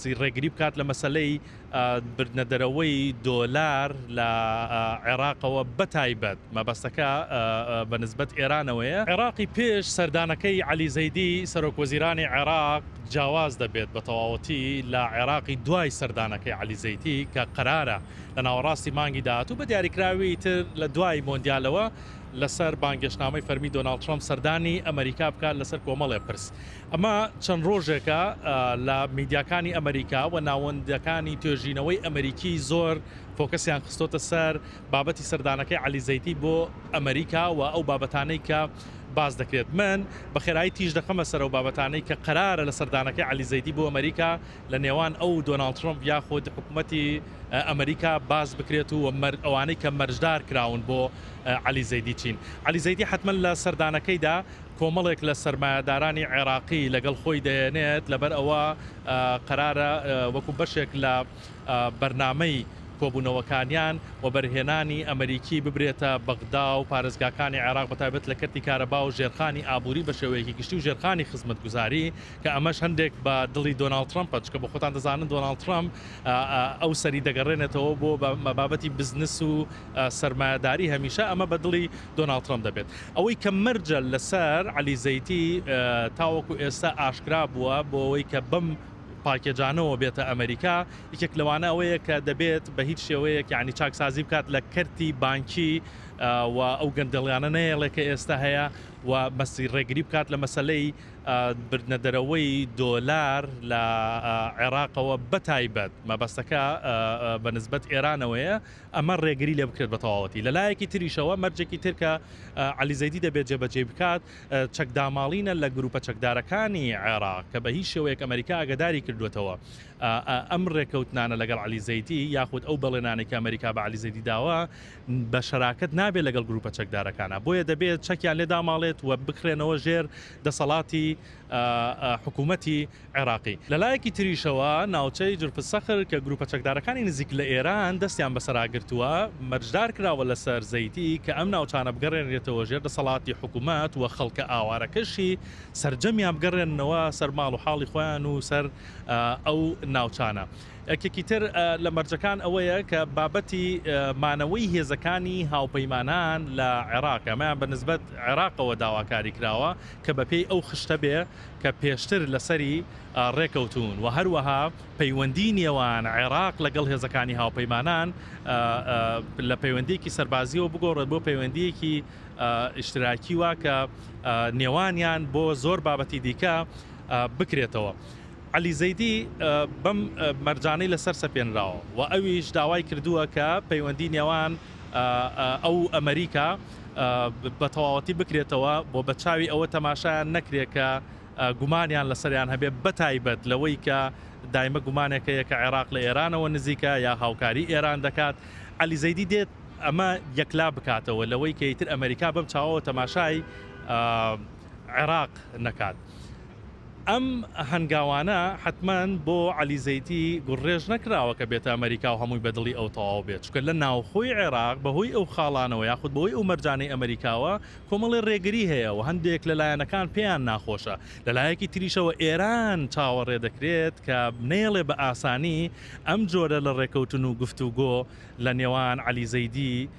سی ڕێگری بکات لە مەسەلەی بردنە دەرەوەی دۆلار لە عێراقەوە بەتایبەت مەبەستەکە بە نسبەت ئێرانەوەیە. عێراقی پێش سەردانەکەی عەلی زەیدی سەرۆک وەزیرانی عێراق جیاواز دەبێت بە تەواوەتی لە عێراقی دوای سەردانەکەی عەلی زەیتی کە قەرارە لە ناوەڕاستی مانگی داهاتوو بە دیاریکراوی تر لە دوای مۆندیالەوە لەسەر بانگێشتنامەی فەرمی دۆناڵد ترەمپ سەردانی ئەمەریکا بکات لەسەر کۆمەڵێ پرس ئەمە چەند ڕۆژێکە لە میدیاکانی ئەمەریکا و ناوەندەکانی توێژینەوەی ئەمەریکی زۆر فۆکەسیان خستۆتە سەر بابەتی سەردانەکەی عەلی زەیتی بۆ ئەمەریکا و ئەو بابەتانەی کە باس دەکرێت من بە خێرایی تیژ دەخەمە سەر ئەو بابەتانەی کە قەرارە لە سەردانەکەی عەلی زەیتی بۆ ئەمەریکا لە نێوان ئەو دۆناڵد ترەمپ یاخود حکوومەتی ئەمەریکا باس بکرێت و ئەوانەی کە مەرجدار کراون بۆ عەلی زەیدی چین عەلی زەیدی حتمما لە سەردانەکەیدا کۆمەڵێک لە سەرمایەدارانی عێراقی لەگەڵ خۆی دەیەنێت، لەبەر ئەوە قەرارە وەکو بەشێک لە بەرنامەی کۆبوونەوەکانیان، وەبەرهێنانی ئەمەریکی ببرێتە بەغدا و پارێزگاکانی عێراق بە تایبەت لە کەرتی کارەبا و ژێرخانی ئابووری بە شێوەیەکی گشتی و ژێرخانی خزمەتگوزاری کە ئەمەش هەندێک بە دڵی دۆناڵد ترەمپە چونکە بە خۆتان دەزانن دۆناڵد ترەمپ ئەو سەری دەگەڕێنێتەوە بۆ بابەتی بزنس و سەرمایەداری هەمیشە ئەمە بە دڵی دۆناڵد ترەمپ دەبێت. ئەوەی کە مەرجە لەسەر عەلی زەیتی تاوەکو ئێستا ئاشکرا بووە بۆ ئەوەی کە بەم پاکێجانەوە بێتە ئەمەریکا، یەکێک لەوانە ئەوەیە کە دەبێت بە هیچ شێوەیەک یانی چاکسازی بکات لە کەرتی بانکی و ئەو گەندەڵیانە نەهێڵێ کە ئێستا هەیە و مەسی ڕێگری بکات لە مەسەلەی بردنە دەرەوەی دۆلار لە عێراقەوە بەتایبەت مەبەستەکە بە نسبەت ئێرانەوەیە ئەمە ڕێگری لێ بکرێت بەتەواوەتی. لەلایەکی تریشەوە مەرجێکی تر کە عەلی زەیدی دەبێت جێبەجێی بکات چەکداماڵینە لە گروپە چەکدارەکانی عێراق کە بە هیچ شێوەیەک ئەمەریکا ئاگاداری کردوێتەوە ئەم ڕێکەوتنانە لەگەڵ عەلی زەیدی یاخود ئەو بەڵێنانێک ئەمریکا بە عەلی زەیدی داوە بە شەراکەت نابێت لەگەڵ گروپە چەکدارەکانە بۆیە دەبێت چەکیان لێ داماڵێت و بکرێنەوە ژێر دەسەڵاتی حکوومەتی عێراقی. لە لایەکی تریشەوە ناوچەی جرف سەخر کە گروپە چەکدارەکانی نزیک لە ئێران دەستیان بەسەرا گرتووە، مەرجدار کراوە لەسەر زەیتی کە ئەم ناوچانە بگەڕێنرێتەوە ژێر دەسەڵاتی حکومەت و خەڵکە ئاوارەکەشی سەرجەمیان بگەڕێننەوە سەر ماڵ و حاڵی خۆیان و سەر ئەو ناوچانە. یەکێکی تر لە مەرجەکان ئەوەیە کە بابەتی مانەوەی هێزەکانی هاوپەیمانان لە عێراق ئەمەیان بە نسبەت عێراقەوە داواکاری کراوە کە بەپێی ئەو خشتە بێ کە پێشتر لەسەری رێکەوتوون و هەروەها پەیوەندیی نێوان عێراق لەگەڵ هێزەکانی هاوپەیمانان لە پەیوەندییەکی سەربازییەوە بگۆڕێت بۆ پەیوەندییەکی ئیشتراکی و کە نێوانیان بۆ زۆر بابەتی دیکە بکرێتەوە. عەلی زەیدی بەم مەرجانەی لەسەر سەپێنراوە و ئەویش داوای کردووە کە پەیوەندیی نێوان ئەو و ئەمەریکا، بەتەواوەتی بکرێتەوە بۆ بەچاوی ئەوە تەماشایان نەکرێت کە گومانیان لەسەریان هەبێ بەتایبەت لەوەی کە دایمە گومانێکەیە کە عێراق لە ئێرانەوە نزیکە یا هاوکاری ئێران دەکات علی زەیدی دێت ئەمە یەکلا بکاتەوە لەوەی کە ئیتر ئەمریکا بەم چاوەوە تەماشای عێراق نەکات. ئەم هەنگاوانە حەتمەن بۆ عەلی زەیتی گوڕڕێژ نەکراوە کە بێتە ئەمەریکاو هەمووی بە دڵی ئەو تەواو بێت، چونکە لە ناوخۆی عێراق بە هۆی ئەو خاڵانەوە یاخود بە هۆی ئەو مەرجانەی ئەمەریکاوە کۆمەڵێ ڕێگری هەیە و هەندێک لە لایەنەکان پێیان ناخۆشە. لە لایەکی تریشەوە ئێران چاوەڕێ دەکرێت کە نەیەڵێ بە ئاسانی ئەم جۆرە لە ڕێکەوتن و گفتوگۆ لە نێوان عەلی زەیدی